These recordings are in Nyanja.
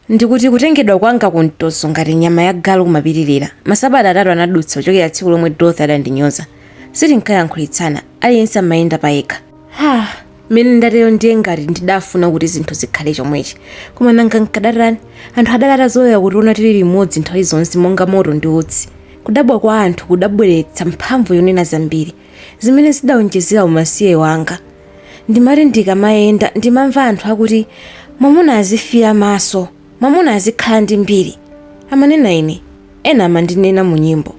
Ndikuti kutengedwa kwanga kumtoso ngati nyama ya galu kumapitirira. Masabata atatu anadutsa kuchokera tsiku lomwe Dorothy adandinyoza. Sitinkayankhulitsana, aliyense amayenda payekha. Ha! Mmene ndatero ndiye ngati ndidafuna kuti zinthu zikhale chomwechi. Koma nanga nkadatani? Anthu adali atazolowera kutiona tili limodzi nthawi zonse monga moto ndi utsi. Kudabwa kwa anthu kudabweretsa mphamvu yonena zambiri. zimene zidaonjezera umasiye wanga. Ndimati ndikamayenda ndimamva anthu akuti mwamuna azifiira maso, mwamuna azikhala ndi mbiri. Amanena ine, ena amandinena mu nyimbo.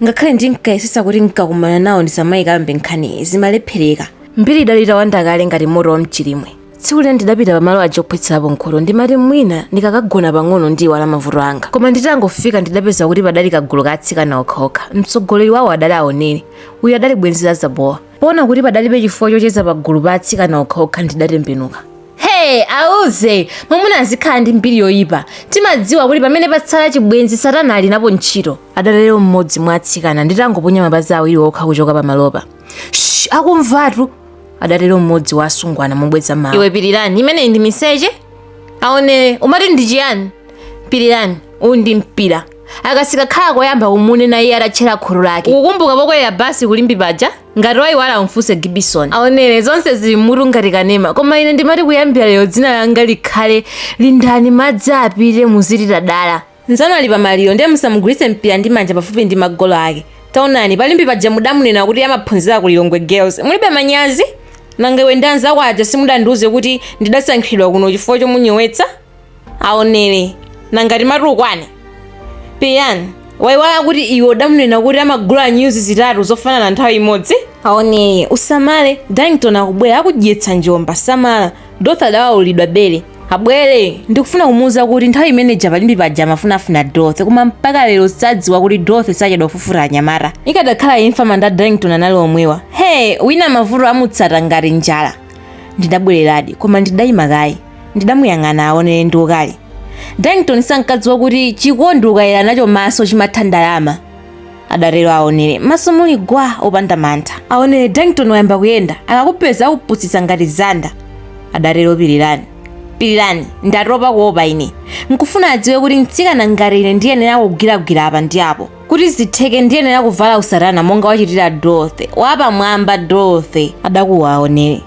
Ngakhale ndinkayesetsa kuti ndikakumana nawo ndisamayikambe nkhaniyi, zimalephereka. Mbiri idali itawanda kale ngati moto wam'chilimwe. tsiku lina ndidapita pamalo aja ophwetserapo mkhuto ndimati mwina ndikakagona pang'ono ndiiwala mavuto anga koma nditangofika ndidapeza kuti padali kagulu ka atsikana okhaokha mtsogoleri wawo adali aonere uyu adali bwenzi la zabowa poona kuti padalibe chifukwa chocheza pagulu pa atsikana okhaokha ndidatembenuka hey auze mwamuna azikhala ndi mbiri yoyipa timadziwa kuti pamene patsala chibwenzi satana ali napo ntchito adatero mmodzi mwa atsikana nditangoponya mapazi awiri okha kuchoka pamalopa Shh, akumvatu adatero mmodzi wa asungwana mobweza mawu iwe pirirani imeneyi ndi miseche aonere umati ndi chiyani pirirani uwu ndi mpira aka sikakhala koyamba kumunena iye atatchera khutu lake ukukumbuka pokwelera basi ku limbe paja ngati wayiwala umfunse gibison aonere zonse zili m'mutu ngati kanema koma ine ndimati kuyambira lero dzina langa likhale lindani madzi apite muziti tadala Nzanu ali pa maliro ndiye musamugwiritse mpira ndi manja pafupi ndi magolo ake. Taonani, pa Limbe paja mudamunena kuti amaphunzira ku Lilongwe Girls. Mulibe manyazi? Nanga iwe ndi anzako aja simudandiuze kuti ndidasankhidwa kuno chifukwa chomunyowetsa? Aonere. Nanga timati ukwane? Pirirani, waiwala kuti iwe udamunena kuti amagula nyuzi zitatu zofanana nthawi imodzi? Aonere, usamale. Darlington akubwera akudyetsa njomba. Samala. Dorothy adawaulidwa bere. abwere ndikufuna kumuuza kuti nthawi imene ija pa limbe paja amafunafuna dorothy koma mpaka lero sadziwa kuti dorothy sachedwa kufufuta anyamata ikadakhala imfa manda a darlington anali omwewa he wina mavuto amutsata ngati njala ndidabwereradi koma ndidayima kaye ndidamuyang'ana aonere ndi ukali darlington sankadziwa kuti chikondi ukayera nacho maso chimatha ndalama adatero aonere m'maso muli gwa opanda mantha aonere darlington wayamba kuyenda akakupeza akupusitsa ngati zanda adatero pirirani pirirani ndatopa kuopa ine nkufuna adziwe kuti mtsikana ngati ine ndiyenera kugwiragwira apa ndi apo kuti zitheke ndiyenera kuvala usatana monga wachitira dorothy wapamwamba dorothy adakuwa aonere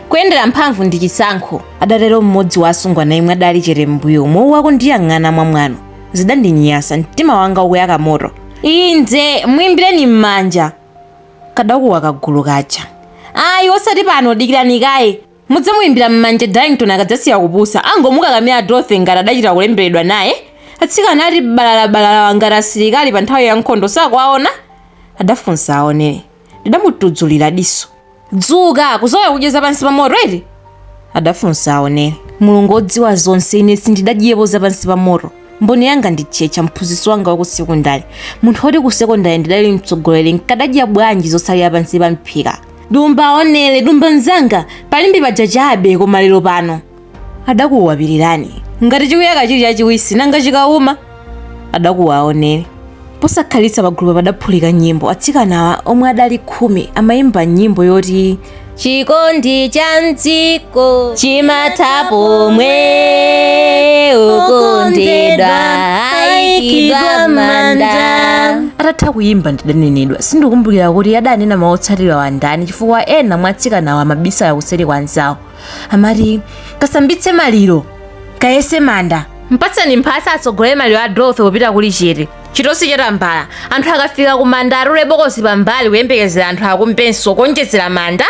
kuyendera mphamvu ndi chisankho adatero mmodzi wa asungwana yemwe adali chete m'mbuyomo uku akundiyang'ana mwamwano zidandinyasa mtima wanga ukuyaka moto inze mwimbireni m'manja kadakuwa kagulu kaja ayi osati pano dikirani kaye mudzamuyimbira m'manja darlington akadzasiya kupusa angomukakamira dorothy ngati adachita kulemberedwa naye atsikana ati balalabalala ngati asilikali pa nthawi ya nkhondo sakuwaona adafunsa aonere ndidamutudzulira diso dzuka kuzolowera kudya zapansi pa moto eti adafunsa aonere mulungu wodziwa zonse ine sindidadyepo zapansi pa moto mboni yanga ndi tchetcha mphunzitsi wanga wa ku sekondale munthu woti ku sekondale ndidali mtsogoleri nkadadya bwanji zotsalira pansi pa mphika dumba aonere dumba mzanga palimbi paja chabe koma lero pano adakuwa pirirani ngati chikuyaka chili chachiwisi nanga chikauma adakuwa aonere posakhalitsa pagulupa padaphulika nyimbo atsikanawa omwe adali khumi amayimba nyimbo yoti chikondi cha mdziko chimatha pomwe wokondedwa aikidwa m'manda atatha kuyimba ndidanenedwa sindikumbukira kuti adanena mawu otsatirawa ndani chifukwa ena mwa atsikanawa amabisala kuseri kwa anzawo amati kasambitse maliro kayese manda mpatseni mphasa atsogolere maliro a dorothy popita kuli chete chitosi cha tambala anthu akafika ku manda atule bokosi pambali kuyembekezera anthu akumbenso kuonjezera manda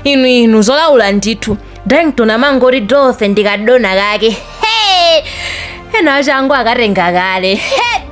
inu inu zolaula ndithu darlington amangoti dorothy ndi kadona kake Hey! ena achangu akatenga kale Hey!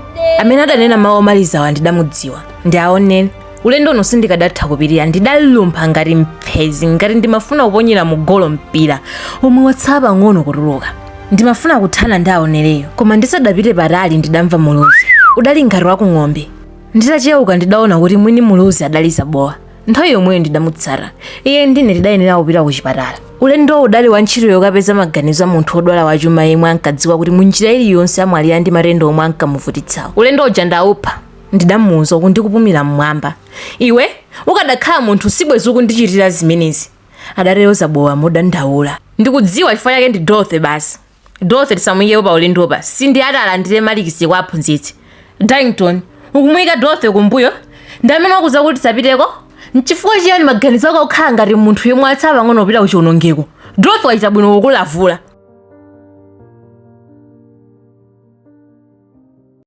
amene adanena mawu omalizawa ndidamudziwa ndi aonere ulendo uno sindikadatha kupirira ndidalumpha ngati mphezi ngati ndimafuna kuponyera mu golo mpira omwe watsala pang'ono kutuluka ndimafuna kuthana ndi aonereyo koma ndisadapite patali ndidamva muluzi udali ngati wa ku ng'ombe nditacheuka ndidaona kuti mwini muluzi adali zabowa nthawi yomweyo ndidamutsata iye ndi ine tidayenera kupita ku chipatala ulendowo udali wa ntchito yokapeza maganizo a munthu wodwala wachuma yemwe ankadziwa kuti munjira iliyonse amwalira ndi matenda omwe ankamuvutitsawo ulendo uja ndaupha Ndidamuuza uku ndikupumira m'mwamba. Iwe, ukadakhala munthu sibwenzi ukundichitira zimenezi, adatero Zabowa modandaula. Ndikudziwa chifukwa chake ndi Dorothy basi. Dorothy tisamuikepo paulendopa, si ndiye ati alandire malikisi kwa aphunzitsi. Darlington, ukumuika Dorothy kumbuyo? Ndi amene wakuuza kuti tisapiteko? N'chifukwa chiyani maganizo ako akukhala ngati munthu yemwe watsala pang'ono kupita kuchionongeko? Dorothy wachita bwino kukulavula.